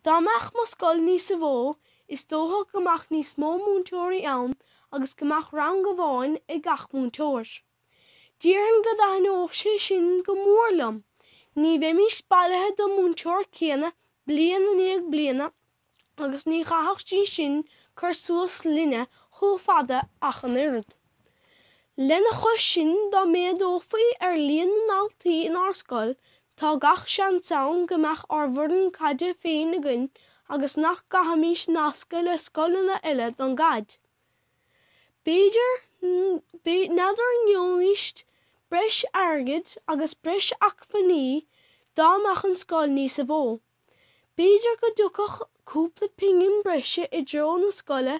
Dá mbeadh mo scoil níosa mhó, is dócha go mbeadh níos mó múinteoirí ann agus go mbeadh rang amháin ag gach múinteoir. Déarfainn go dtaithneodh sé sin go mór liom, ní bheimis bailithe den múinteoir céanna bliain i ndiaidh bliana agus ní chaithfeadh sí sin cur suas linne chomh fada ach an oiread. Lena chois sin dá méadófaí ar líon na ndaltaí in ár scoil Tá gach seans ann go mbeadh ár bhfoireann caide féin againn agus nach gcaithfimis nascadh le scoileanna eile don gcaid. N'fheadar an ngeobhaimis breis airgid agus breis acmhainní dá mbeadh an scoil níosa mhó. B'fhéidir go dtiocfadh cúpla pingin breise i dtreo na scoile,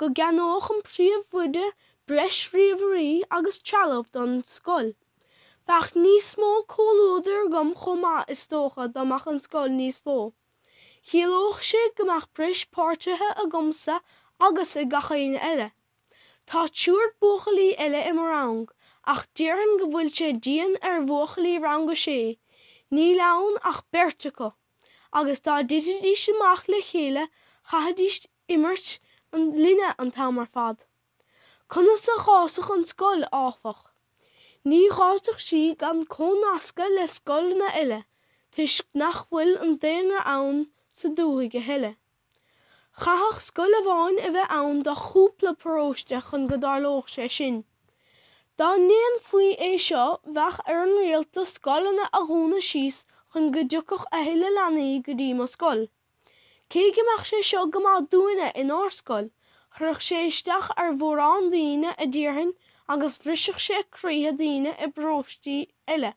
go gceannódh an príomhoide breis ríomhairí agus trealamh don scoil. Bheadh níos mó comhluadair agam chomh maith is dócha dá mbeadh an scoil níos mó. Chiallódh sé go mbeadh breis páirtithe agamsa agus ag gach éinne eile. Tá triúr buachaillí eile i mo rang ach déarfainn go bhfuil sé dian ar bhuachaillí rang a sé, níl ann ach beirt acu, agus dá dtitfidís amach le chéile chaithfidís imirt linne an t-am ar fad. Conas a fhásfadh an scoil, áfach? Ní fhásfadh sí gan cónascadh le scoileanna eile toisc nach bhfuil an daonra ann sa dúthaigh a thuilleadh. Chaithfeadh scoil amháin a bheith ann do chúpla paróiste chun go dtarlódh sé sin. Dá ndéanfaí é seo bheadh ar an rialtas scoileanna a dhúnadh síos chun go dtiocfadh a thuilleadh leanaí go dtí mo scoil. Cé go mbeadh sé seo go maith dúinne in ár scoil, chuirfeadh sé isteach ar mhórán daoine a déarfainn agus bhrisfeadh sé croíthe daoine i bparóistí eile.